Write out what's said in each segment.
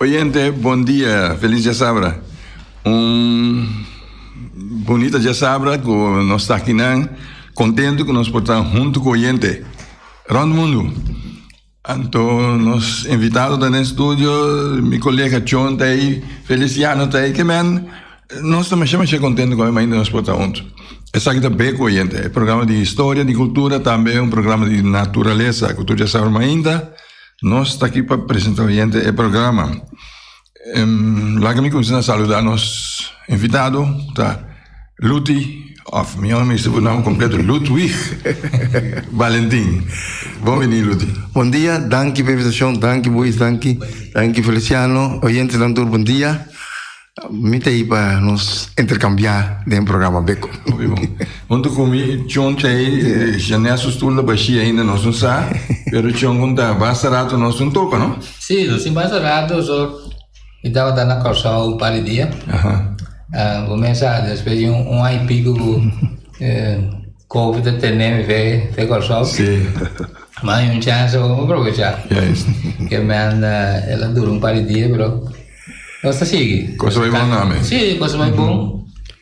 Oyente bon dia feliz diasabra un bonita diasabra cu nos takinan contento cu nos por ta hunto cu oyente rond mundo anto nos invitado ta den studio mi colega chon ta ayi Feliciano ta ayi kimen. Nos ta masha masha kontento ku Almainda nos por ta huntu. Esaki ta bek oyente. E programa di historia, di kultura, tambe un programa di naturalesa ku tur dja sa Almainda nos ta aki pa presenta oyente e programa. Laga mi kumsa saluda nos invitado ku ta Luti of mi omi misti bu nom kompleto Ludwig Valentin. Bon bini Luti. Bon dia, danki pa e invitashon, danki Boeis, danki Feliciano, oyentenan tur bon dia. Mi ta ei pa nos interkambiá den programa Beko. Oke bon. Huntu ku mi, Chon ta ei, Janel su stul ta bashí ainda, nos no sa, pero Chon kon ta basta ratu nos no topa, no? Sí, nos tin basta ratu, so mi tabata na Kòrsou un par di dia. Bo mesa despues di un aña i piku ku Kovi ta tene mi fe te Kòrsou, mi a haya un chèns, bo mi a propechá. Ke mèn el a dura un par di dia, pero. Nos ta sigui. Cosa bai bon nami. Sí, cosa bai bon.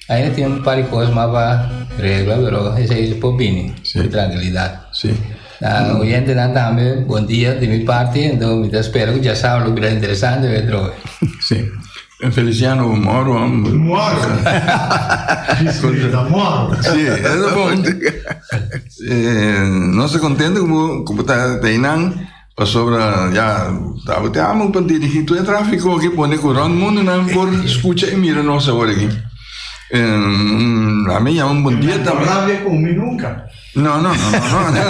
Ainda tin un par di cos mas pa regla, pero esei por bini sí. cu tranquilidad. Sí. Uh, mm. Oyentenan tambe, bon dia di mi parti, ento mi ta spera cu ya sabe lo bira interesante, we droge. Sí. En Feliciano, moro. Moro. moro. Sí, es bon. Eh, no se contento como, como ta, ta inan. Pasobra ya tabata e amo pa dirigí tur e tráfiko aki, pone ku rònt mundunan por skucha i mira nos awor aki. Ami ya un bondia ta. No rabia ku mi nunka. No, no, no, no, no.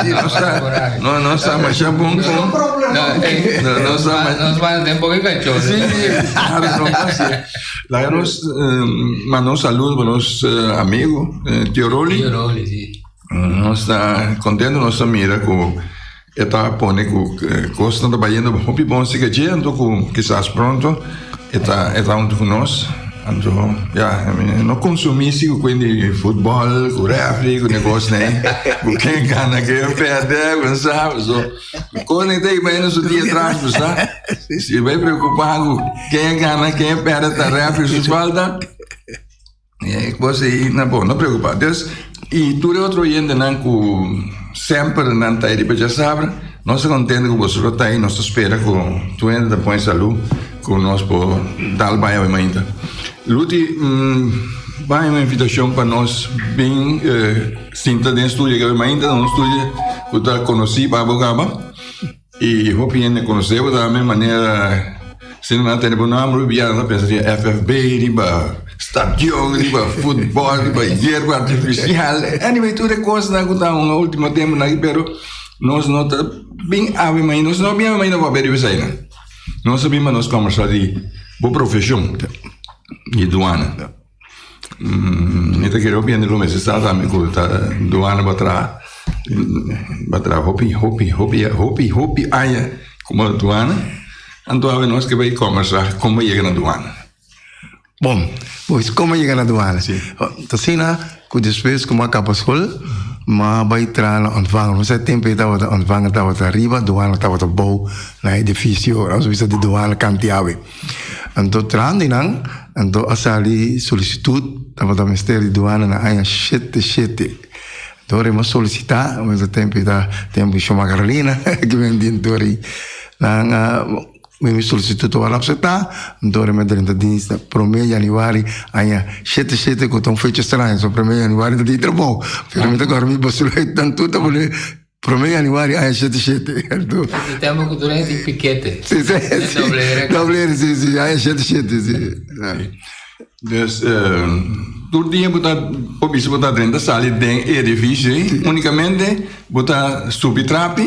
Si nos ta, no, nos ta masha bon ku. No problema. No, nos ta. Nos ba den poco cachorro. Si, claro, no pasa. La nos, uh, mano saludo para nos uh, amigo, uh, Tío Rolly. Tío Rolly, sí. Nos ta kontento nos ta mira ku e ta pone ku kosnan ta bayendo hopi bon si ke dje anto ku kisas pronto e ta e ta huntu ku nos anto ya no konsumí si ku kuenti futbol ku refri ku ne kosnan ku ken gana ken pèrdè wen sa so kosnan i ta i bai na su dia tras bo sa si bai preokupá ku ken gana ken pèrdè ta refri su falta E cos ei na bon, no preocupa. Dus, y tur e otro oyentenan cu semper nan ta ei riba dja sabra, nos ta contente cu boso lo ta ei, nos ta spera cu tur hende ta pon e salud cu nos por tal baña awor mainta. Luti, bay un invitacion pa nos bin sinta den studio aki awor mainta, un studio cu ta conoci baba cu aba. Y hopi hende conoce bo tambe manera si nan a tene bo nomber hopi bia nan ta pensa riba FFB, riba stadion, riba futbol, riba yerba artificial. Anyway, tur e cosnan cu ta un ultimo temponan aki pero nos no ta bin awe mai, nos no bin awe mai na papia riba esainan. Nos a bin pa nos conversa di bo profesion, di duana. Mi ta kere hopi hende lo mester sa sa mi ku ta dos aña batraha batraha hopi hopi hopi hopi hopi aña kuma duana anto awe nos ke bai kòmbersa komo yega na duana bon pues komo yega na duana si ta asina ku despues ku mi a kaba skol mi a bai traha na ontvangel mi sa e tempu ei tabata ontvangel tabata riba duana tabata bou na edifisio nos bisa di duana kanti awe. Anto tras di nan anto a sali solisitut tabata mester di duana na aña shete shete. Anto rema solisitá mester tempu ta tempu di shoma Carolina ki bini di anto ri nan a mimi solisitut tabata apsetá anto rema drenta dinsda prome januari aña shete shete ku ta un fecha straño so prome januari ta di trabou pero mi ta kòrda mi basura nan tur ta pone. Prome januari aña shete shete. E tempo ku tur aña tin pikete. Si, si, si. Dobleere. Dobleere, si, si. Aña shete shete, si. Dus, tur dia bo ta por bisa bo ta drenta sali den e edifisio ei, unikamente bo ta subi trapi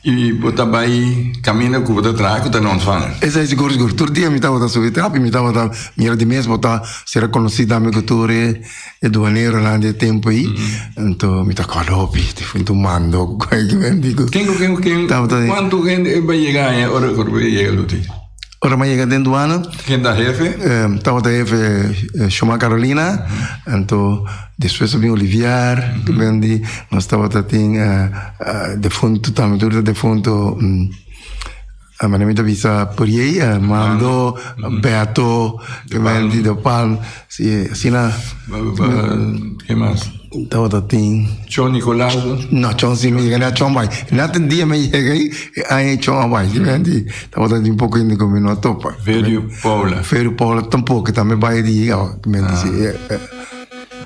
i bo ta bai kaminda ku bo ta traha, ku ta na ontfanga. Esei sigur, sigur. Tur dia mi tabata subi trapi, mi tabata mira di mes bo ta ser rekonosí tambe ku tur e E duaneronan di e tempu ei, anto mi ta kòrda hopi, te fuente un mando ku kuai ki ben di ku. Ken ku ken ku ken, Tabata di- kuantu hende e bai yega aña ora e korpi e yega luti? Ora mi a yega den duana, Ken ta hefe? eh, tabata hefe eh, Shoma Carolina, anto despues a bin Olivier, ku ben di, nos tabata tin eh, eh, defuntu tambe, tur ta defuntu, mm, Mane mi ta bisa p'riei Mando, Beto, Wendy, De Palm, si asina. Ke mas? Tabata tin. Chon Nicolas? No, Chon si mi yega, Chon bai. Na tin dia mi yega ei, e aña Chon a bai, si mi anti. Tabata tin poko yende ku mi no a topa. Verio Paula? Verio Paula tampoco, tambe bai e dia, mi anti si.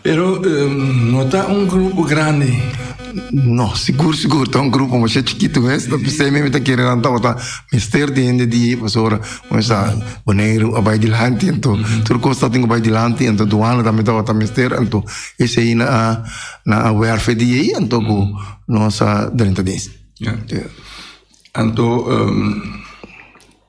Pero no ta un grupo grandi. No, sigur sigur ta un grupo masha chikitu mes, ta pesei mi ta kere nan tabata mester di hende di e pasora, bo sa Boneiru a bai dilanti anto tur kos ta tin ku bai dilanti anto duana tambe tabata mester anto esei na a na a werve di ei anto ku nos a drenta den si. Anto.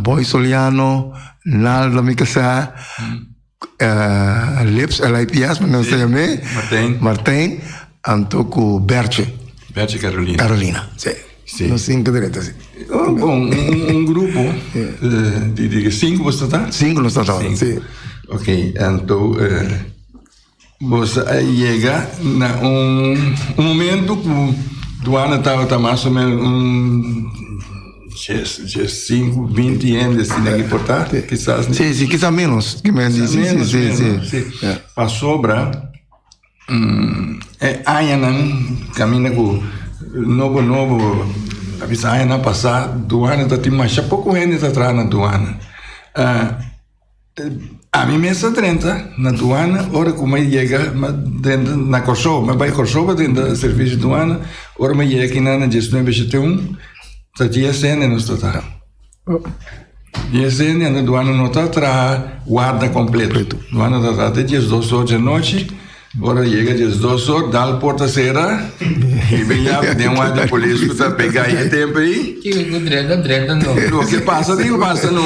Boy Soliano, Naldo mi ta sa, Lips LIPS mi ta sa ya mi, Martin, anto ku Bertje. Bertje Carolina. Carolina, si. Nos sinku deretu si. Bon, un grupo di sinku boso ta? Sinku nos ta ta ora, si. Ok, anto. Nos a yega na un momento cu duana tabata mas o menos un dies, dies sinku, binti hende asina ki porta, kisas ni. Sí, sí, kisas menos. Ki men di, sí, sí, sí, sí. sí. Yeah. Pasobra, mm, e añanan camina cu nobo nobo, a veces añanan pasá, duana ta tin masha poco hende ta traha na duana. Uh, Ami mes ta drenta na duana ora ku mi yega drenta na Kòrsou. Mi a bai Kòrsou pa drenta servisio di duana, ora mi a yega kina na dies nuebe shet'un ta GSN nos ta traha. GSN anto duana no ta traha warda kompleto, duana ta traha te dies dos ocho di anochi. Ora yega dje dos or dal porta sera i bin yabi den wardie polis ku ta pega e tempo ei. Kiko ku drenta drenta no. No ke pasa tin pasa no.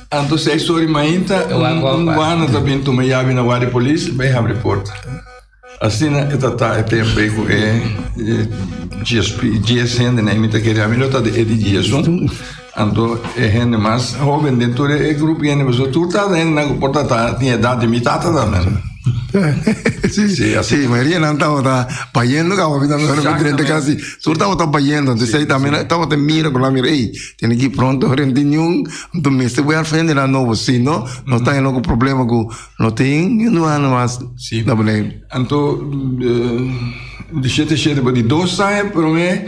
Anto seis ori mainta un guarda ta bin tuma yabi na wardie polis i bin habri porta. Asina e ta ta e tempo ei ku e djes hende na e mi ta kere ami lo ta e di djes un. Anto e hende mas hoben den tur e grupo hende pasobra tur ta hendenan ku por ta tin edat di mi tata tambe. sí, sí, así. Sí, mayoría nan estaba ta payendo ka hobi también no diferente casi. Tur estaba ta payendo, entonces sí, también sí. estaba te mira por la mira, hey, tiene que pronto reunión, tu miste voy al frente na novo, si no, mm. no está en loco problema ku no tin, ni no ano mas. Sí. Entonces, eh, de siete siete, di dos años, pero me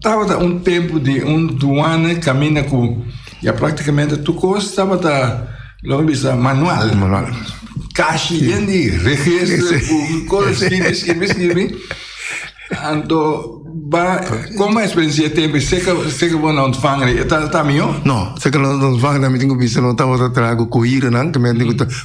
Tabata un tempu di un duana kaminda ku ya praktikamente tur kos tabata lo mi bisa manual. Manual. Kashi den di registro ku kos skibi skibi skibi. Anto ba koma experiencia tempo seka seka bo na ontvang ta ta mio? No, seka lo ontvang na mi tin ku bisa lo tabata traha ku kohira nan ke men tin ku ta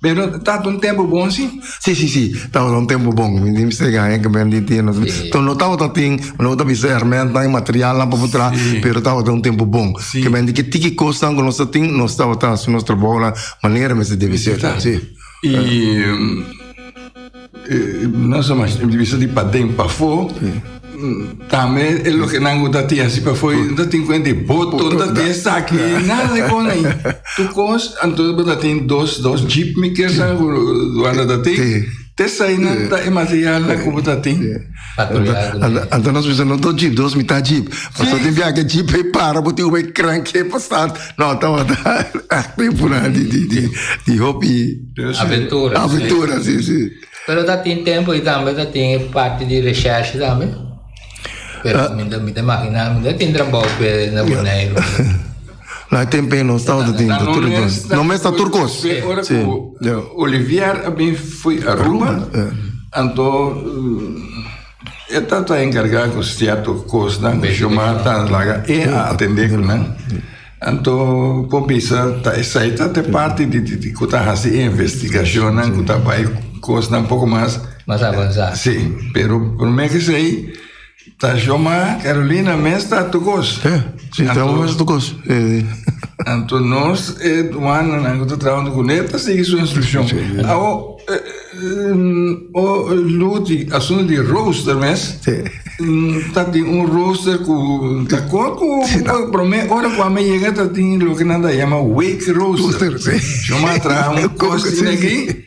Pero tabata un tempu bon si? Si, si, si, tabata un tempu bon. Mi tin mester gana enke bendí tin. Enton lo tabata tin, lo ta bisa hermentan i materialnan papu tra, pero tabata un tempu bon. Ke bendí ke tiki kosnan ku nos a tin, nos tabata hasi nos trabounan manera mester debe ser. Si. Nos a mester bisa di paden pafó. Tambe e lo que nan go ta tin así pafó, no ta tin cuenta di boto, no ta tin esaki, nada de con ahí. Tu cos, anto bo ta tin dos, dos jeep mi kesa, wanda ta tin. Tesa ahí nan ta e material nan ku bo ta tin. Anto nos bisa no do jeep, dos mitad jeep. Paso tin bia ke jeep e para bo tin ube krank ke pa start. No, ta wata akte pura di di di di hopi aventura. Aventura, si si. Pero ta tin tempo i tambe ta tin parti di recherche tambe. Pero mi ta mi ta imagina mi ta tin trabao pe na Bonaire. No hay tempe nos ta otro tinta tur e cos no mes ta tur cos pe ora cu Olivier a bin fui Aruba anto e ta ta encarga cu cierto cos nan cu Shoma ta laga e a atende cu nan anto por bisa ta esai ta te parti di di cu ta hasi e investigacion nan cu ta bai cos nan poco mas mas avansa si pero prome ke sei Ta shoma Carolina mes ta tukos. Ja, si Anto, trabajo mes tukos. Anto nos e duana nan ta trabajo kuné ta sigui su instrucción. Awo o luti asunto di rooster mes. Ta tin un rooster ku ta kor ku promé ora ku ame yega ta tin loke nan ta yama wake rooster. Shoma traha un kos tin aki.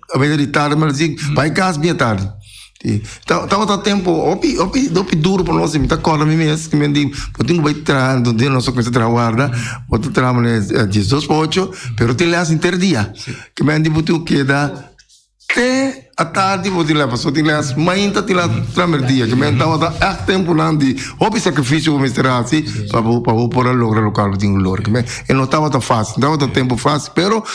A bese di tardi m'a recibi bay cas bia tardi. Si. Ta ta otro tempo hopi hopi hopi duro pa nos. Mi ta acorda mi mes cu mi di bo tin cu bay traha un dia nos ta cuminsa traha warda bo ta traha mane diesdos pa ocho pero tin les henter dia cu mi a di bo tin cu keda te atardi bo tin les paso tin les mainta tin les primer dia cu mi a di tawata eck temponan di hopi sacrificio bo mester haci pa bo pa bo por a logra locual bo tin cu logra cu mi a di e no tawata facil no tawata tempo facil pero.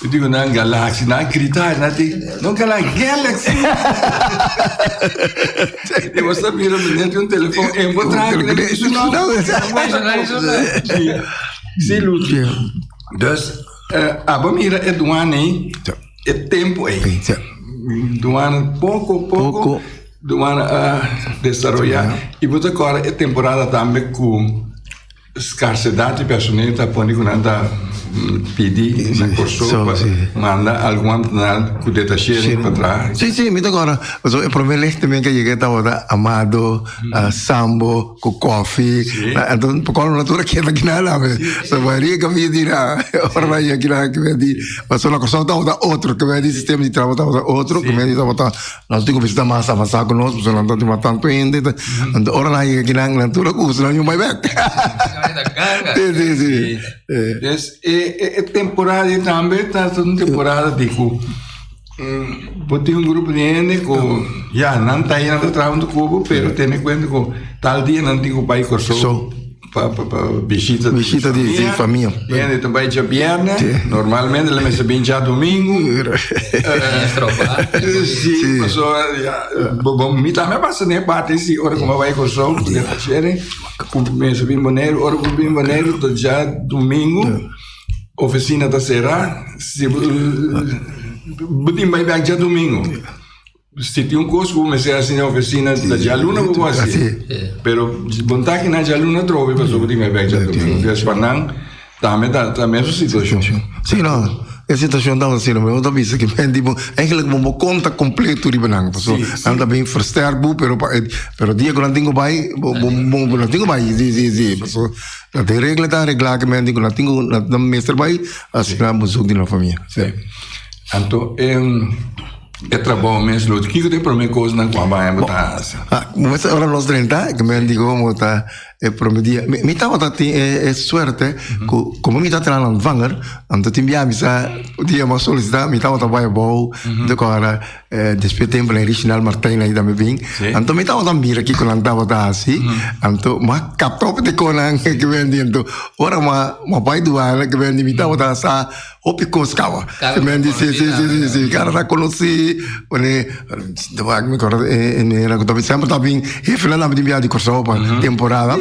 Yo digo nan galaxy, nan grita, nan di, no galaxy, galaxy. Yo was a mira meneer di un telefoon, en bo traag, en ik zo nou. Si, Lucy. Dus, abo mira e duane, e tempo e. Duane poco, poco, duane a desaroya, i bo ta kora e temporada tambe ku Skarsedat di personel ta pone ku nan ta pidi na Kòrsou pa manda algun nan ku detashering pa traha. Sí, sí, mi ta kòrda. Pasobra e promé lek también ke yega tabata Amado, Sambo ku Kòfi. Enton pa kòlmo nan tur a keda kinan nan awe. So wak ri e kambio di nan ora nan yega kinan nan kimin di. Pasobra na Kòrsou tabata otro, kimin di sistema di traha tabata otro, kimin di tabata. Nos tin ku visita mas avansá ku nos, pasobra nan ta tima tantu hende. Anto ora nan yega kinan, nan tur a kusa, nan yun bai bèk. Sí, sí, sí. Des, e, e, e temporada di tambe ta un temporada di ku bo tin un grupo di hende ku ya nan ta nan ta traha untu kubo, pero tene kuenta ku tal dia nan tin ku bai Kòrsou. Pa, pa, pa bishita di Bishita di, di famia. Biende ta bai dja bierne. Si. Normalmente la mester bin dja domingo. Maestro, pa. Si, Si. paso, ya, bo, bo, mi tambe pasa ne parte si, ora ku mi bai Kòrsou, ku den Tasheren, ku mester bin Boneiru, ora ku bin Boneiru ta dja domingo, ofisina ta sera, si bo, bo tin bai bèk dja domingo. Si tin un cos cu bo mester haci na oficina, ta djaluna bo por haci. Pero bon ta aki na djaluna trobe, paso bo tin me becha trobe. Des pa nan, tambe ta, ta mesmo situacion. Si no, e situacion ta asina, pero bo ta bisa ki men di bo, eigenlijk bo bo conta completo riba nan. Paso nan ta bin versterk bo, pero pa, pero dia cu nan tin cu bay, bo, bo, bo, nan tin cu bay. Si, si, si. Paso nan tin regla ta regla ki men di cu nan tin cu, nan mester bay, asina bo zoek di nan famia. Anto, em. E trabajo mes lo kiko te prome kos nan kwa baña bo ta hasa? Ah, mo sa ora los 30, que me digo mo ta e prome dia. Mi, mi tamo ta tin e, e suerte, ku, como mi ta tran an vanger, am ta tin bia mi sa dia ma solicita, mi tamo ta baña bo, de ko ara eh, después tempo le Richinal Martijn la ida me bin. Sí. Anto mi tamo ta mira kiko nan tamo ta hasi, anto ma kapta op te konan que me diento. Ora ma ma pai duan que me di mi tamo ta sa Hopi cos caba. Cada men dice, sí, sí, sí, sí, cada na conocí, pone, de waar me acuerdo, en el año también siempre también, y final también viaje de Curaçao para temporada.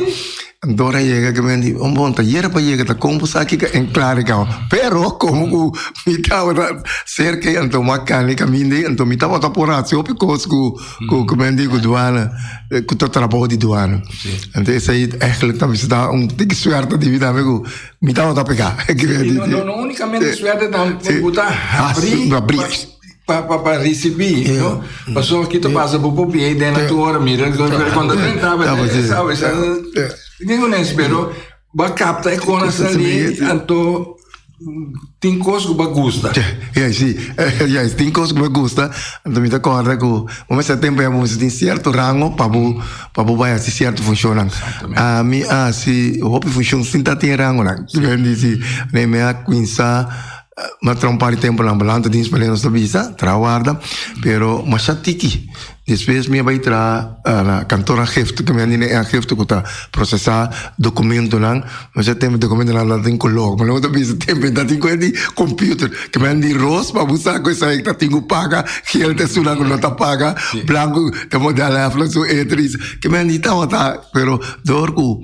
Dora llega que me dice, un bon taller para llegar, ta combo saki que en claro caba. Pero como cu mi estaba cerca en tomar carne caminde, en tomar estaba ta por hacer hopi cos cu cu cu me dice cu duana, cu ta trabajo de duana. Entonces ahí eigenlijk también se da un tic suerte de vida amigo. Mi ta nota peka. No, no unicamente suerte ta buta habri pa pa pa ricibi, no? Paso kito pasa bo po pie den na tu hora mira cuando ten taba sabe sa ningunes pero ba capta e conas ali anto Tin cos cu ba gusta. Yay, si. Yay, tin cos cu ba gusta. Anto mi ta corda cu bo mester tempo ya bo mester tin cierto rango pa bo, pa bo bai haci cierto funcionnan. Mi a haci hopi funcion sin ta tin rangonan. Mi a dici, nee, mi a cuinsa, mi a traha un par di temponan, bo lanta dies pasobra nos ta bisa, traha warda, pero masha tiki. Despues mi a bai traha na kantor aangifte, ku mi a nini e aangifte ku ta prosesá dokumentunan. Mi fia tempu dokumentunan lo a tin kolor, pero mi ta bisa tempu i ta tin kuer di komputer, ku mi a nini ros pa bu sa ku esei ku ta tin ku paga, gel ta esun nan ku no ta paga, blanku ta modelnan, su etris. Ku mi a nini tawata, pero dor ku.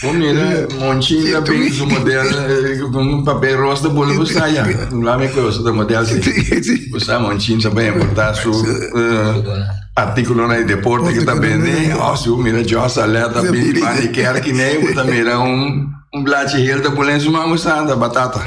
Bo mira Monchi ta bin su model con un papel roos de bolo bo sa ya. Bla mi koe su ta model si. Bo sa Monchi ta bin importa su artículo na deporte que ta bende. Oh si bo mira Jos Alert ta bin bani kerk ne bo ta mira un un blachi heel ta bolo en su man bo sa ta batata.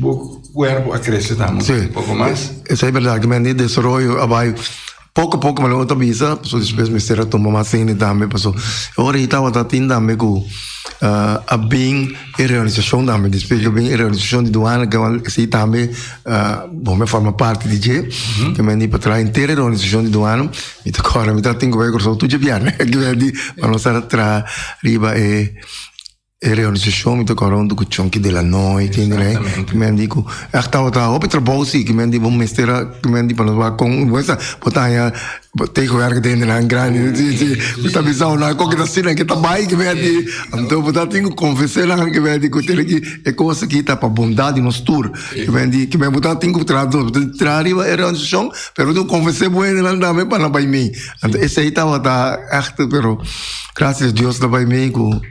Bo cuerpo a crece tambe un poco mas. Si, esey berdad cu men di desaroyo a bay poco poco pero logo ta bisa pasobra despues mester a tuma mas hende tambe pasobra e ora ey tabata tin tambe cu a bin e realisacion tambe despues cu a bin e realisacion di duana cabal esey tambe bo me a forma parti di dje cu men di pa traha enter e realisacion di duana mi ta corda mi ta tin cu bay Curaçao tur dje biamen cu men di pa nos a traha riba e. E reorganisacion mi ta kore un dukucion ki dela noi ken gra ki mi a di ku ach tabata hopi trabou si ki mi a di bo mester a ki mi a di pa nos wak kon bo mester bo ta haña tegenwerk den nan grandi si si mi ta bisa nan kon ki ta asina ki ta bai ki mi a di anto bo ta tin ku konvensé nan ki mi a di ku tene ki e kos aki ta pa bondat di nos tur ki mi a di ki mi bo ta tin ku traha dos bo tin ku traha riba e reorganisacion pero bo tin ku konvensé bo hende nan tambe pa nan bai mi anto esei tabata ach pero gracias Dios nan bai mi ku.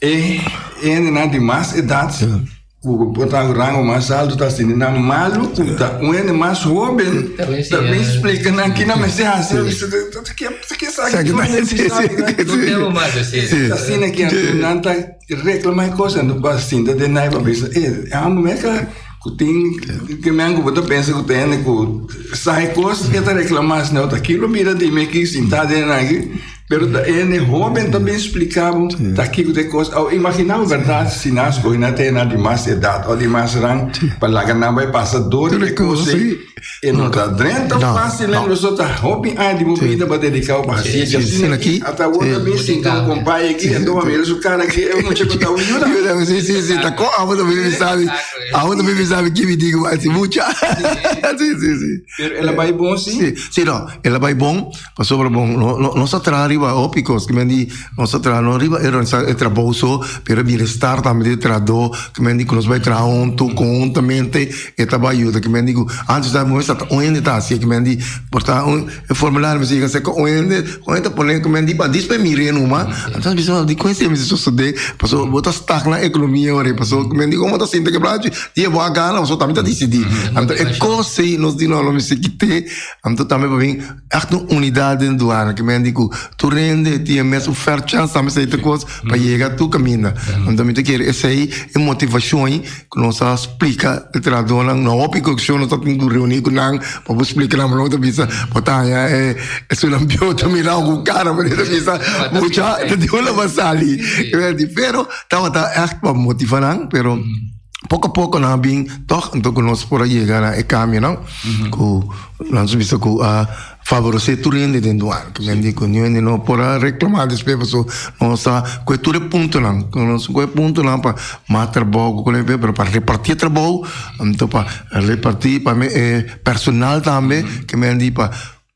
E hendenan di mas edat ku por ta un rango mas alto ta asina nan malu ku ta un hende mas hoben ta bin splika nan kina mester hasi a bisa nan ta ke esaki ku nan mester sabi no temo mas esei ta asina ke anto nan ta reklama e kos anto pa sinta den nai pa bisa e amo me ka ku tin ke men ku bo ta pensa ku ta hende ku sa e kos e ta reklama asina ota kilo bira di mi aki sinta den aki. Pero ta en e hoben ta ben splikabo ta kiko de kos. Au imaginabo verdad si nas go na te na di mas edad o di mas ran pa laga nan bai pasa dor de kos ei. E no ta drenta fácil en los ta hopi aña di bobida ba dedicado pa hasi e jardín aquí. Ata wo ta ben sinta un compay aquí en toma mira su cara aquí e mucha ko ta uyuda. Yuda si si si ta ko amo ta ben sabi. Amo ta ben sabi kimi di go asi mucha. Si si si. Pero ela bai bon si? Si si no ela bai bon. Pasobra bon, nos a traha riba hopi kos, kimen di nos a traha no riba e organisa e trabou so, pero e bienestar tambe di e trahadó, kimen di ku nos bai traha huntu konhuntamente e ta bai yuda. Kimen di ku antes ta mester ta un hende ta hasi, kimen di por ta un e formulario mester yega serka un hende, un hende ta pone kimen di bandis p'e mir'é numa, anto a bisa di ku hende mester sosodé, pasobra bo ta stak na ekonomia ora, pasobra kimen di ora bo ta sinti e plata chi di e bo a gana, bo tambe ta disidí. Anto e kos ei nos di no lo mester kité. Am ta tambe pa bin echt un unidad den duana ke mende ku tur rende tin e mes ofert chans tambe esei ta kos pa yega tur kaminda am tambe ta kere esei e motivashon ku nos a splika e trahadornan no hopi kokeshi nos a tin ku reuni ku nan pa por splika nan bo ta bisa bo ta haña e sulambion ta mira bo ku kara pasobra e ta bisa mucha ta tin ulagbasali pero tabata echt pa motiva nan pero. poco a poco na bin toch anto que nos por llegar na e cambio no ku nos bisa ku a favorecer tur hende den duan que men di ku ni hende no por reclamar después paso nos sa kue tur e punto nan ku nos kue punto nan pa mas trabajo kule be pero pa repartir trabajo anto pa repartir pa me e personal tambe que men di pa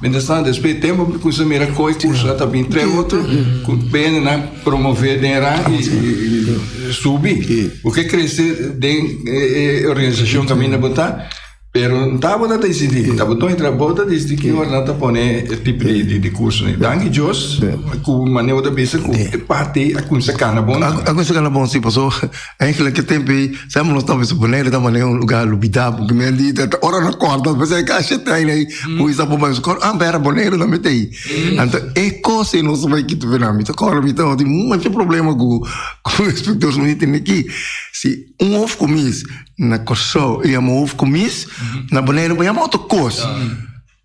Mientras tanto después tempo mi comienza mira coi curso ta bin tres otro cu pene na promover den ra y, y subi porque crece den eh, organización que mi na bota pero ta bota ta decidi ta bota entra bota decidi que hora na ta pone el tipo de, de, de curso ne danki Dios cu mane bota bisa cu parte a comienza cana bon a comienza cana bon si paso Eigenlijk e tempo ei semper nos ta bisa Bonaire ta mane un lugar lubida porque mi a di ta ora no corda pues e ka she trein ei ku i sa bo bai scor ah bera Bonaire tambe ta ei anto e cos ei nos ta bai Quito binan mi ta corda mi ta oti mucha problema ku ku inspector mi tin aki si un hof cumis na Kòrsou i yama hof cumis na Bonaire bo yama otro cos.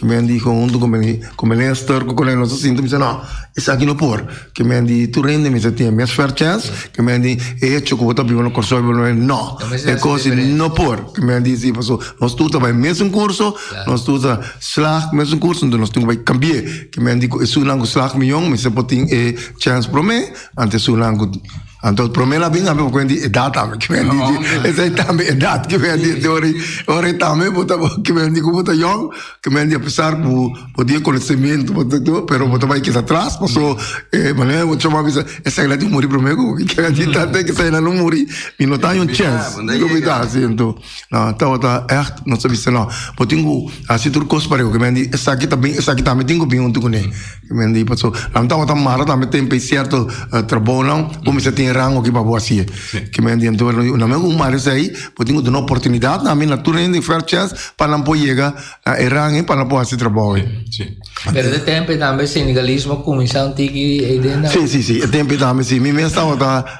ke men di konhunto ku mene ku mene stòr ku kole nos ta sinti mi se nò esaki no por ke men di tur hende mester tin e mes fair chance ke men di e hecho ku bo ta biba na Kòrsou biba na Bolivia nò e kos i no por ke men di si paso nos tur ta bai mesun kurso nos tur ta slaag mesun kurso enton nos tin ku bai kambie ke men di ku e sunan ku slaag miyon mester por tin e chance promé anto e sunan ku. Anto prome la bin ame kwen di edat ame ki men di esai tambe edat ki men di ori ori tambe bota bo ki men di ku bota yong ki men di pesar bu bo di konosementu bota do pero bota bai keda tras paso e manera bo choma bisa esai la di muri prome ku ki men di ta te esai la lo muri mi no ta yon chance mi no bida si anto na tabata echt no sa bisa na bo tin ku hasi tur kos pareho ki men di esaki ta bin esaki tambe tin ku bin huntu kuné. Mende paso nan tabata mara tambe tempe cierto uh, trabonan bo misa tin rang oki pa bo asie ke mende ento na me un mare sei bo tin una oportunidad na mi na tur hende fair chance pa nan po llega na e rang pa nan po hasi trabajo sí pero de tempe tambe sindicalismo kuminsang tiki e den sí sí sí e tempe tambe sí mi mes tabata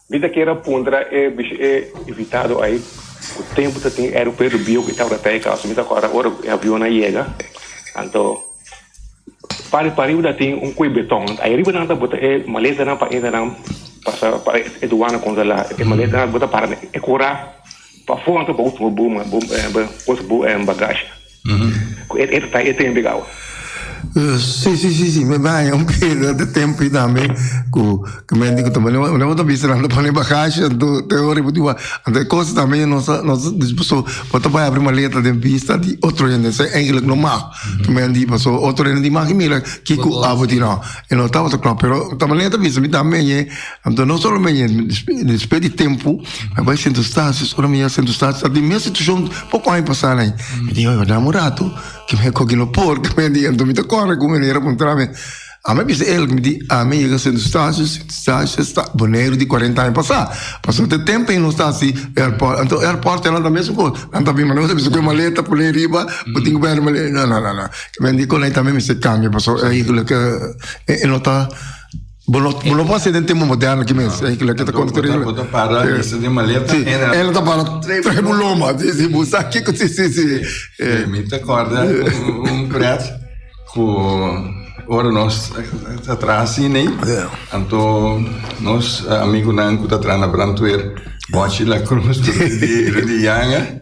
Mi ta kier a puntra e bishi e invitado ai ku tempu ta tin aeropuerto bia ku e tabata ta e kousa. Mi ta akorda ora ku e avionnan a yega, anto pari pariba ta tin un kue beton. Ai riba nan ta bota e maletanan pa inda nan pasa pa e duana kontrola e maletanan. Bo ta para na e kura. Pa fronta bo usa bo cosa bo bagashi. Cu e ta ta e tempo ega awa. Si, si, si, si, me baña un peda de tempo y tambe cu camente cu ta bani, bo no ta bisa nan ta pone bagashi anto te ora bo diba, anto e cosa tambe no sa, no sa dispo so bo ta bay abri maleta den bista di otro hende, esei eigenlijk no mag, camente di paso otro hende di maki mira kico abo di no, e no tabata cla, pero tambe nan ta bisa mi tambe ñe. Anto no solamente mi despues di tempu mi a bai centro stasis ora mi yega centro stasis ta den mes situacion poco aña pasa na ayi mi di oye dame un rato que mi a coge lo por que mi a diga anto mi ta corre cu mi manera pa entra mi ami a bisa el mi di ami a yega centro stasis centro stasis ta bonero di cuarenta aña pasa paso te tempo ayi no esta asi airport anto airport nan ta mesun cos nan ta bini ma nan ta bisa cu e maleta pone ayi riba bo tin cu bai maleta no no no no mi di con ayi ta mi mester cambia paso ayi lo ke e no ta Bo no, bo no por ser den tiempo moderno aquí mes. No, lo que te conto terrible. Bo ta para en ese de maleta. Sí, él ta para tres buloma. Sí, sí, bo sa que sí, sí, sí. Eh, me te acorda un pret cu ora nos atrás sí, nee. Yeah. Anto nos amigo nan cu ta trana brantuer. Bochi la cruz, de de yanga.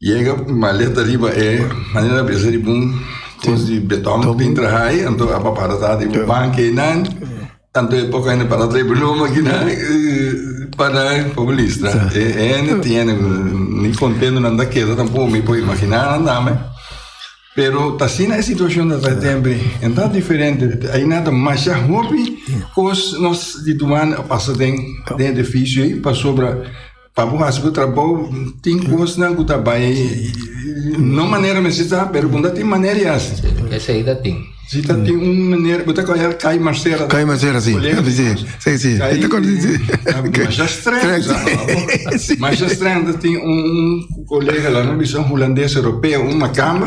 Yega un maleta riba e manera besa riba un cos di beton que tem traha ahí, anto a papá ta tá riba banca e nan, anto e poco ainda para trae broma que nan para poco listra. E ene tiene ni contento nan da queda tampoco me puedo imaginar nan dame. Pero ta sina e situación ta trae tembre, en tan diferente, ahí nan ta masha hopi cos nos di tuman a pasa den den edificio ahí pasobra Pa bo hasi bo trabou tin kosnan ku ta bai no manera mester ta pero bo no tin manera di hasi. Esei ta tin. Si ta tin un manera bo ta koya kai masera. Kai masera si. Si si. Kai masha streng sa abo. Masha streng ta tin un kolega la no bisa un hulandes europeo un makamba.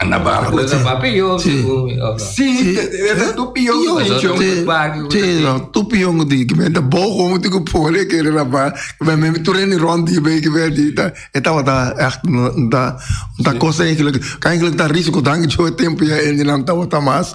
Ana barco. Pues a papi yo. Sí. Sí, era tu pion. Sí, no, tu pion di que me da bogo un tico pole que era ba, me me tu reni rondi be que be di ta, eta wa ta echt da da cosa eigenlijk, eigenlijk da risiko dank jo tempo ya en dinan ta wa ta mas.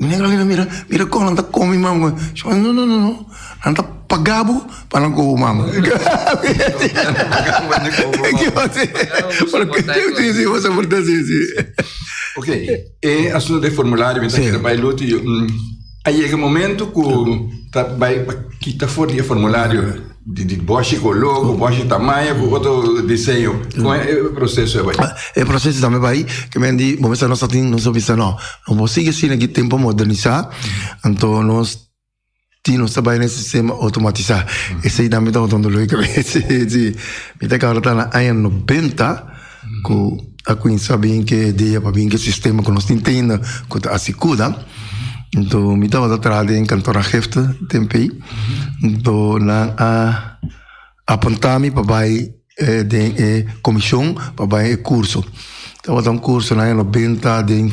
Mira Carolina mira mira con nan ta come mi mango Shon no no no no nan ta paga bo pa nan coge bo mango si si bo soporta si si Ok e asunto den formulario mi ta kere bay luto y a yega momento cu ta bay pa kita for di e formulario. Di boshi koló, ku boshi tamaño, ku otro diseño. Kon e proseso e bai? E proseso tambe bai, ke men di bo mester nos a tin, nos a bisa no, no por sigui asina aki tempo a modernisá, anto nos tin, nos ta bai na e sistema otomatisá. Esei tambe ta botando doló di kabes, si. Mi ta kaba ora ta na aña nobenta. ku a kuminsá bin ke idea pa bin ke sistema ku nos tin tenda ku ta hasi kuda. Enton mi tabata traha den kantor aangifte den pei. Enton nan a apuntá mi pa bai den e komishon pa bai e kurso. Tabata un kursonan e lo binta den.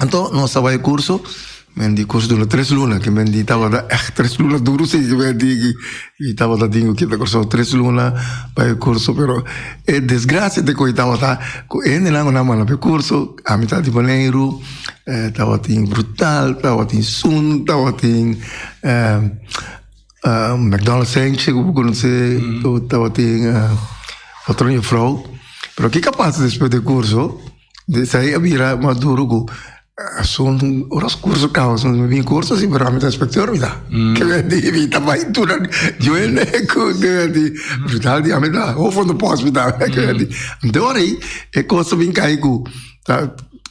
Anto nos a bai e kurso, men di kurso dura tres luna, ke men di tabata èht tres luna duru si, ke men di aki, i tabata tin ku kita Kòrsou tres luna pa e kurso, pero e desgrasia te koi tabata ku e hendenan ku nan manda pa e kurso a mitat di Boneiru tabatin brutal, tabatin sun, tabatin McDonald Sanchez ku bo konosé, tabatin Patròn Jufrou, pero ke ka pasa despues di e kurso? Esei a bira Maduro ku asun oras kurso kousa mi bin kurso si pero ami ta inspektor mi ta kibenti mi ta bai tuna juene ku kibenti hospital di ami ta hofo di pos mi ta kibenti anto ora ei e kos a bin kai ku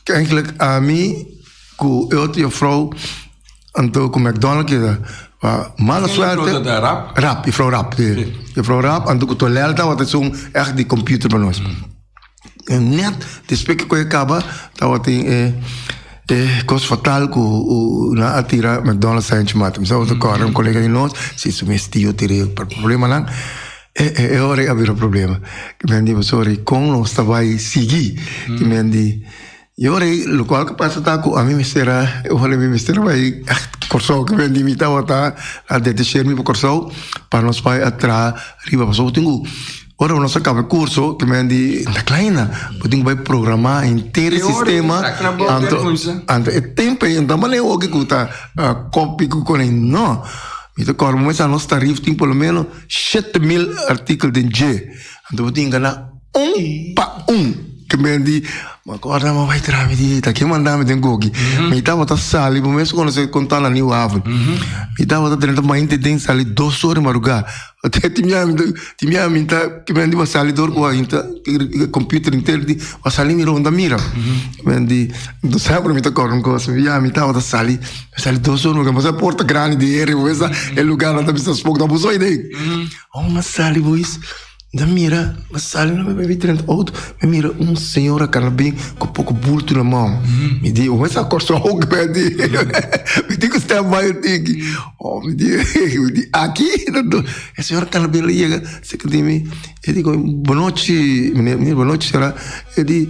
enkele ami ku e otro jufrou anto ku McDonald keda mala suerte jufrou Raab anto ku Tonel tabata esun ech di computer pa nos Net despues ke koe kaba tawatin e e kos fatal ku nan a tira McDonald's sign chi mata. Mi sa otro kòrda un kolega di nos si su mes tio tira e problemanan e e ora ei a bira problema. Nan di, Pastor, kon nos ta bai sigui? I mi a di. Yori, lokual ku pasa ta ku ami mester a oha mi mester a bai Kòrsou ku mi mi tabatin ta a detecher mi pa Kòrsou pa nos bai a traha riba pasobra bo tin ku ora nos a kaba e kurso ku mi di ta kla aina bo tin ku bai programa henter e sistema anto e tempu ei ta manera oki ku ta kopi ku kone no mi ta kòrda bo mes a nos tarif tin polomenos shete mil artikul den dje. Anto bo tin gana un pa un. Tin biaha di bo a kòrda, bo a bai traha, mi di, ta ken manda mi den koki? Mi tabata sali, bo mes konosé kon ta na New Haven. Mi tabata drenta bai inti den, sali dos ora di marugá. Tin biaha mi ta, tin biaha mi ta, tin biaha mi ta sali dor ku a inta kòmpiuter inter di bo a sali mi ronda a mira. Tin biaha di, bo sabi por mi ta kòrda un kos, mi biaha mi tabata sali, mi sali dos ora di marugá, bo sabi por ta grandi di heri, bo mester sa e lugá nan ta bisa spòk, ta abusá idei. Aun mi a sali pues, mi a mira, mi a sali mi a bai dren di outo, mi a mira un señor a kala abe ku poku bultu na mon, mi di wen sa korson hopi ku eti, mi tin ku sta bai un tin aki, oh mi di mi di aki no no, e señor a kala abe lo yega a seka di mi, e di bo nochi, mi di bo nochi señora, e di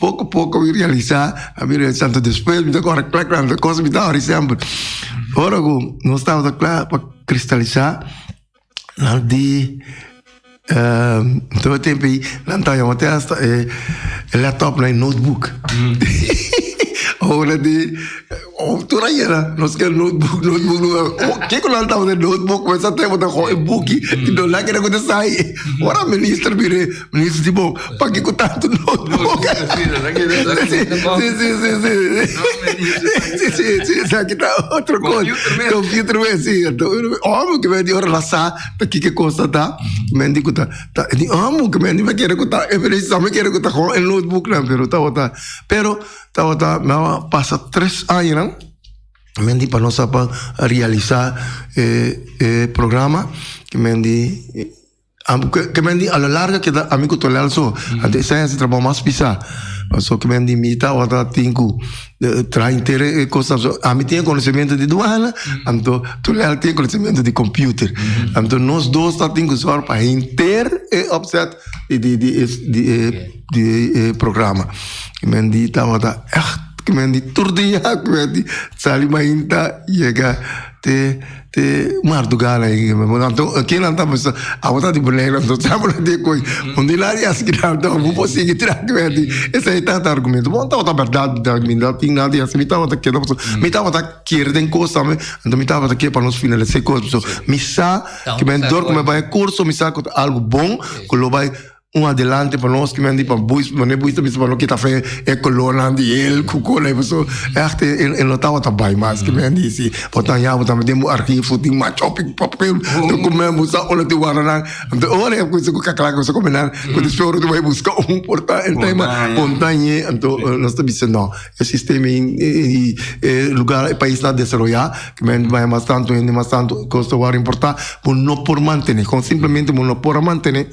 Poko poko mi realisa, a mi realisa tanto despues mi ta kore kla kla na kos mi ta hori semper. Ora ku nos tabata kla pa kristalisa nan di tur e tempu ei nan ta yama te hasta e laptopnan e notebook ora di. Of tur a yera nos ke notebook, notebook lo wak. Oh, ke ku lo al tabata notebook, ku esa tempo ta gooi buki, i don la kere ku ta sai. Ora minister bira, minister si bon, pa ke ku tantu notebook? Si, si, si, si, si. Si, si, si, esaki ta otro kos. Computer mes. Computer mes, si. Enton, omo ke menti ora la sa, ta kiko kosa ta, menti ku ta, ta, di omo ke menti me kere ku ta, e precisamente me kere ku ta gooi e notebooknan, pero tabata, pero, Tabata nan a pasa tres añanan, men di pa nos a pa realisa e e programa, ke men di ke men di a la larga keda ami ku Tonel so, anto esei hasi trabou mas pisá. Paso ke men di mi tabata tin ku traha henter e kosnan so, ami tin e konosementu di duana, anto Tonel tin e konosementu di kompiuter. Anto nos dos ta tin ku sòru pa henter e opset di di di e. di e programa ki men di tabata echt ki men di tur di ya ki men di sali mainta yega te te mardugal ay kinan ta pensa abo ta di bonega nan ta abo nan ta e koi un di nan yas ki nan tabata bo por sigui tra ki men di esa e tata argumento bo nan tabata berdad mi nan tin nada yas mi tabata keda paso mi tabata kier den cos tambe enton mi tabata kier pa nos finalisa e cos paso mi sa kimen dor ku mi bai e curso mi sa ku ta algo bon ku lo bai Un adelante pa nos kimen di pa buis mane buis ta bisa pa no kita fe e colornan di el cu cola y paso echt e e no tabata bay mas kimen di si bo ta ya bo ta mete bo archi fut tin macho pi pa papel ta comen bo sa olo tin waranan enton ora e cusa cu caclaca cu su come nan cu despues ora tu bay busca un porta en tema pontañe enton nos ta bisa no e sistema y y e lugar e pais na desaroya kimen bay mas tanto hende mas tanto cos ta wor importa bo no por mantene con simplemente bo no por a mantene.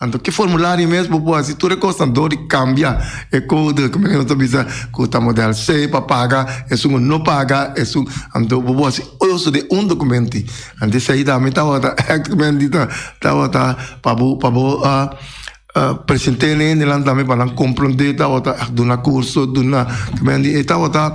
Anto ki formulario mes bo por hasi? Tur e kosnan dor di kambia e kode, ku men ta bisa ku ta modèl se, pa paga esun o no paga esun. Anto bo por hasi uso den un dokumenti. Anto esei ta mi tabata èkt ku men di ta tabata pa bo pa bo present'é ne hende nan tambe pa nan komprondé. Tabata èkt duna kurso, duna ku men di e tabata.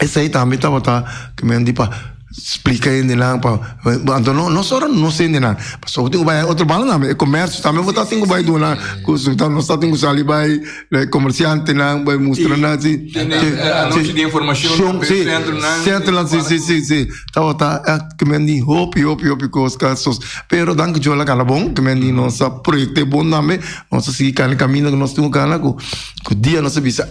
Esei tambe tabata kimen di pa splika hendenan pa anto no no solo nos hendenan paso ku tin ku bai hay otro bandan tambe e komersio tambe bo ta tin ku bai duna kusu nos ta tin ku sali bai e komersiantenan bai mustra nan si si anochi di informashon si sentronan si si si si tabata kimen di hopi hopi hopi kos ka sos pero dan ku djor a kala bon kimen di nos a proyekto e bon tambe nos a sigui kana e kaminda ku nos tin ku kana ku dia nos a bisa.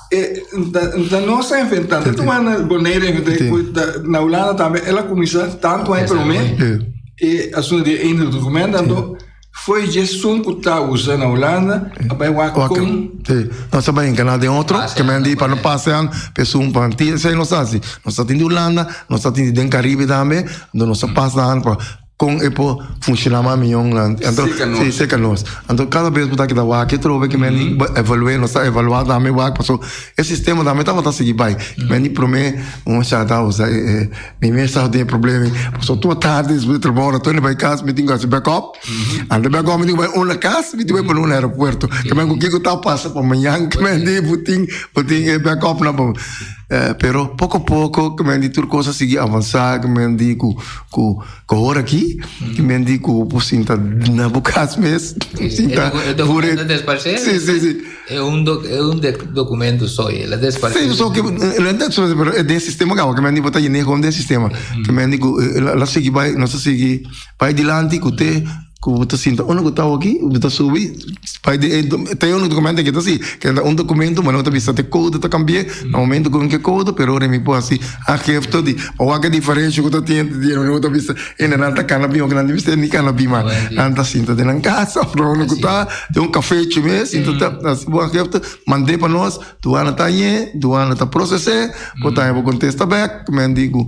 E nta, nta nos ta inventá. Nta tu man Bonaire inventá, Sí. pues, ta- na Hulanda también, él a comenzá tanto aña promé, Eh, e asunto di Eindhoven documento, tanto foi je son cu ta usa na Hulanda, a bai wak Wak- con, Sí. Nos ta bai en canal den otro, Paseando que men di pa por no ahí. pasean, pe sun pa ti, esei nos ta haci. Nos ta tin di Hulanda, nos ta tin di den Caribe tambe, do nos ta pas nan pa Kon e por funciona mas mion nan. Anto si seca nos. Anto cada vez bota kita wak e trobe kimen ni evaluate nos ta evaluate dame wak paso e sistema dame ta bota sigi bai. Men di prome un shata usa e mi mes sa den problema paso tua tarde despues di trabao ora toni bai cas mi tin cu haci back up. Ante back up mi tin cu bai una cas mi tin cu bai pone una aeropuerto kimen cu kico ta pasa pa mañan kimen di bo tin bo tin e back up nan pa bo. Pero poco poco kimen di tur cosa sigi avansa kimen di cu. Ku ku hora aki men di ku por sinta na bo kas mes sinta por e desparsé si si si e un do e un de documento so e la desparsé si so ke renta so pero e den sistema kawa ke men di bota yene kon den sistema ke men di ku la sigi bai no sa sigi bai dilanti ku te Ku bo ta sinta unda ku ta oki, bo ta subi bai di e ta un dokumentu ke ta si ke ta un dokumentu mane bo ta bisa te kouda ta kambi'é na momentu ku ke kouda pero ora mi por hasi agefto di pa wak e diferensha ku ta tin entre di ora bo ta bisa e nan ta kana bin oki nan ta bisa e ni kana bin mas nan ta sinta den nan kasa ora bo ku ta den un kafechi mes sinta ta hasi bo agefto mande pa nos duana ta añe duana ta proses'é bo ta haña bo kontesta bek men di ku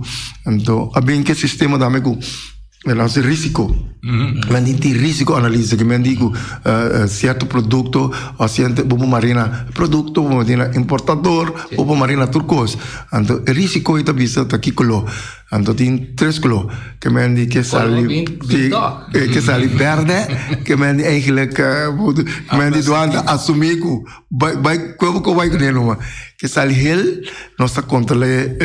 a bin ke sistema dame ku. El hace risiko. Men di ti risiko analisa ke men di ku sierto produkto o sierto bobo marina produkto bobo marina importador bobo marina tur kos. Anto e risiko i ta bisa ta ki koló. Anto tin tres koló ke men di ke sali ke sali bèrdè ke men di eigèlèk men di duanta asumí ku. Bai bai cuevo cu bai cu ne luma ke sali hel nos ta controle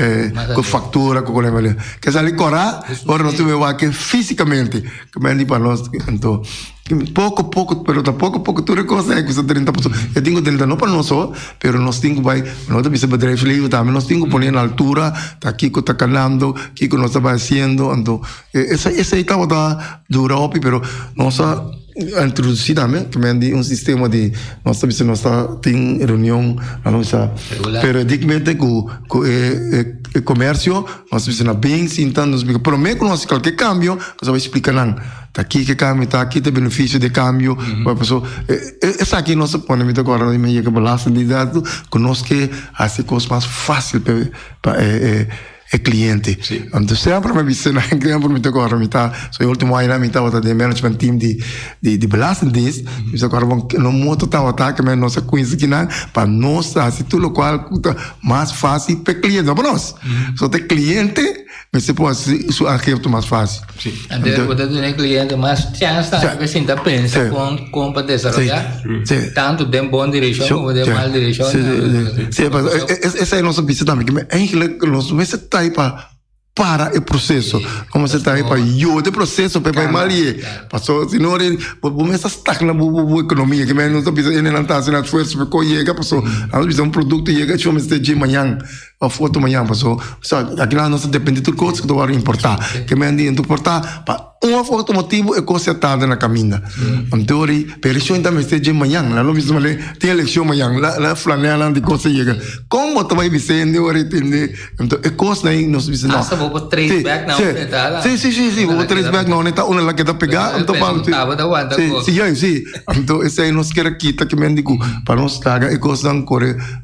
cu factura cu culebra le ke sali cora ora nos tuma wake fisicamente cu mandi pa nos ento poco poco pero ta poco poco tur e cosa e cusa drenta pasobra e tin cu drenta no pa nos so pero nos tin cu bai no ta bisa bedrijfsleven tambe nos tin cu pone na altura ta kico ta calando kico nos ta bai haciendo anto. Esei esei tabata dura hopi pero nos a introduci tambe men di un sistema di nos ta bisa nos ta tin reunion na lo bisa Regular. periodicmente cu cu e e e comercio nos ta bisa na bin sinta nos explica prome cu nos hasi cualkier cambio nos a bai explica nan ta aki ki cambio ta aki ta e beneficio di e cambio bai paso e e esaki nos ta pone mita agora men yega belastingdiendato cu nos ke hasi cos mas facil pa e e. e cliente. Anto semper me bisa na exempel mi ta corro mi ta so e ultimo aña mi tabata den management team di di di belastingdienst mi bisa corro bon nos moto tabata ke men nos a quince kinan pa nos ta hasi tur lokual ku ta mas fácil pa e cliente no pa nos so te cliente mester por hasi su acepto mas fácil. Sí. Anto bo ta duna e kliente mas chèns tambe pa e sinta pensa kon kon pa desaroyá tantu den bon direkshon komo den mal direkshon. Sí, sí, sí. Paske esa e nos bisa tambe ke eigenlijk nos mester ta ahí pa para e proseso. Nos mester ta ahí pa yuda e proseso pa e bai mal rié. Paso si no rin bo mester stak na bo bo ekonomia. Ke men nos ta bisa ene nan ta haciendo esfuerzo pa koi yega paso nan ta bisa un produkto yega cho mester dje mañan. pa foto mañan paso aki nan nos ta depende tur cosas ta wor importa ke men di ta porta pa un of otro motivo e cos a tarda na caminda anto wor y pero eleccion ta mester dje mañan nan lo bisa male tin eleccion mañan la flanea nan tin cos ta yega con bo ta bay bisa hende wor y tende anto e cos na nos bisa no hasta bobo trace back na un eta la si si si bobo trace back na un eta una la keda pega anto pa si si anto esey nos keda kita ke men di cu pa nos traga e cos nan core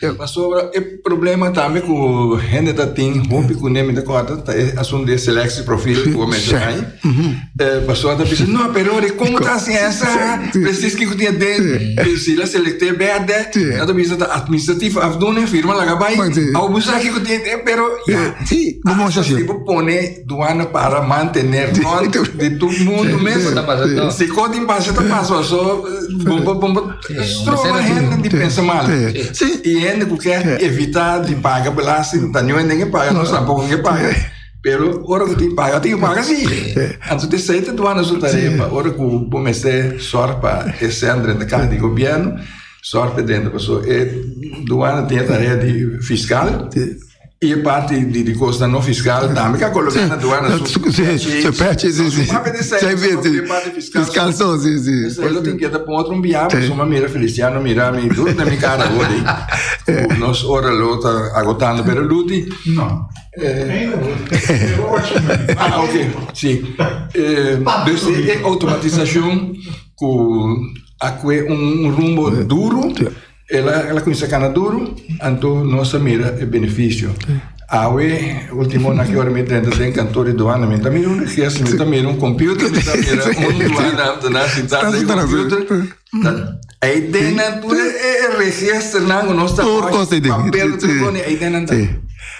Pero pasobra e problema tambe ku hende ta tin, hopi ku nemi ta kòrda, ta e asuntu di e seleksi profil ku bo menshona ahí. Pasobra ta bisa, no, pero ora kon bo ta hasi esa, presis kiko tin e den, si la selekté bèrdè, nan ta bisa ta atministrativo afdoende, firma laga bai, awo bo sa kiko tin e den, pero ya, hasta si bo pone duana para mantener nòrm di tur mundu mes, si kon tin pasa ta pasa, pasobra bon bo. Stroba hende di pensa mal. Y hende cu kier evita di paga belasting, ta niuwe nen e paga, nos tampoco nen e paga. Pero ora cu tin paga, tin paga si. Anto t'esey ta duana su tarea pa ora cu bo mester zorg pa e cen drenta caha di gobierno, zorg pa e drenta. Paso e duana tin e tarea di fiscal. Y e parti di di cosnan no fiscal tambe ka coloca na duana su su purchase. So su papia di sa e so papia parti fiscal so. Esei lo tin keda pon otro un biaha pasobra mi a mira Feliciano mira mi duro na mi cara awor ei. Ku nos ora lo ta agotando pero Luti. No. Ah ok si dus e automatisacion ku a kue un rumbo duro. El a, el a cuminsa cana duru, anto nos a mira e beneficio. Awe, ultimo na ki ora mi drenta den kantoor di duana, mi ta mira un registro, mi ta mira un computer, mi ta mira un duana ambtenaar ah, sintado den computer. Ei den nan tur e registro nan, nos ta papel, ei den nan ta.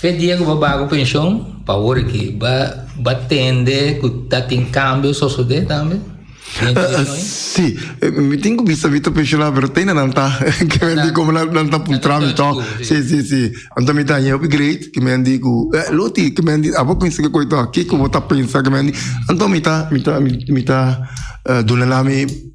Fe dia ku bo bai ku penshon, pa wor aki, bo a tende ku ta tin kambio sosodé tambe? Sí, mi tin ku bisa Vito Penshonado, pero ta inda nan ta, ke mi a di komo nan ta pui trámite tok. Sí, sí, sí. Anto mi ta haña e hopi great, ke mi a di ku, eh, Luti, ke mi a di, abo kuinsi ke koito a, kiko bo ta pensa? Ke mi a di, anto mi ta, mi ta, mi ta duna na mi.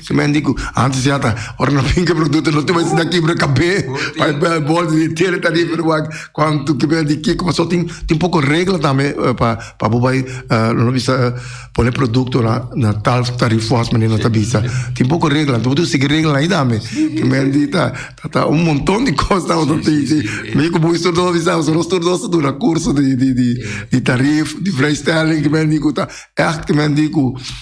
Su men di cu antes ya ta ora no finca producto no tin mas na kibra cabe pa el bolsa di tierra ta riba pero wak cuando tu kiber di kico paso tin tin poco regla tambe pa pa bo bay lo no bisa pone producto na na tal tarifa as manera ta bisa tin poco regla anto bo tin sigi regla ayi tambe su men di ta ta un monton di cos ta boso tin tin mi cu bo instructor a bisa boso nos tur dos ta duna curso di di di di tarif di vrijstelling cu men di cu ta echt cu men di cu.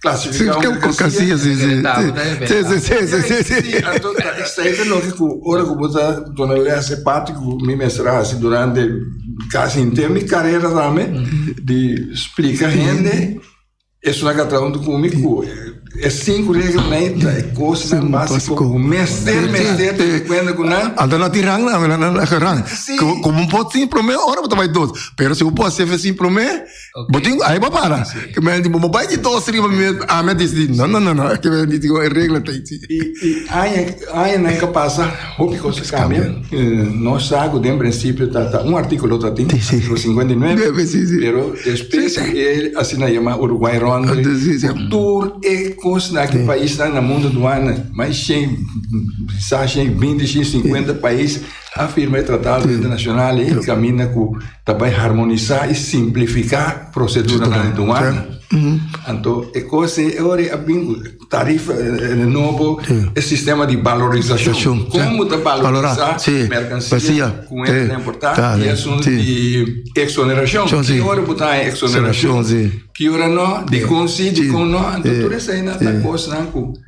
Clasifica un casillas si si Anto ta excelente loke ku ora ku bo ta duna lese parti ku mi mester hasi durante casi henter mi carrera tambe di explica hende es una ka trauntu ku mi ku e cinco regla nei ta e cosnan Sin básico básico. ku mester Sí, mester sí. tene cuenta ku nan Anto na ti rang na, na, na, na, na rang. Sí. Como, como un pot sin promé, ora bo ta bai dos. Pero si un pot hacer sin promé, Bo tin ku ai bo para. Ke men di bo bo bai di dos riba mi ami a disidi. No no no no ke men di e regla ta aici. I i aña añanan ke pasa hopi kos a kambia. No sa ku den prinsipio ta ta un artíkulo ta tin artíkulo singwenta i nuebe pero despues di e asina yama Uruguay Ronde ku tur e kosnan ku paisnan na mundu duane mai shen sa shen binti shen singwenta pais a firma e tratado internashonal i kaminda ku. Ta bai harmonisá i simplifiká proseduranan den duana. Anto e kos ei e ora a bin ku tarifa nobo, e sistema di balorisashon. Kon bo ta balorisá merkansia ku e ta importá i asuntu di eksonerashon. Ki ora bo ta haña eksonerashon, ki ora no, dikon si, dikon no. Anto tur eseinan ta kosnan ku.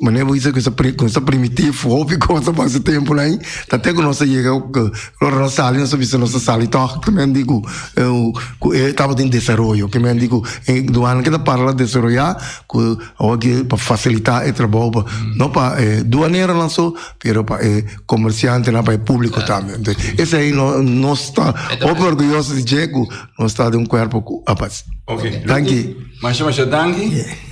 Manera bo bisa ku nos ta primitif, hopi kos pasa e tempu na ain, ta te ku nos ta yega ku ora nos ta sali nos ta bisa nos ta sali tok kemente ku ku e tabatin desaroyo, kemente ku e duana ke ta parla desaroya ku awo ke pa fasilita e trabou pa no pa e duaneronan so pero pa e komersiantenan pa e publiko tambe enton esei nos ta hopi orguyoso di dje ku nos ta den un kuerpo ku a base. Oke danki. Masha masha danki.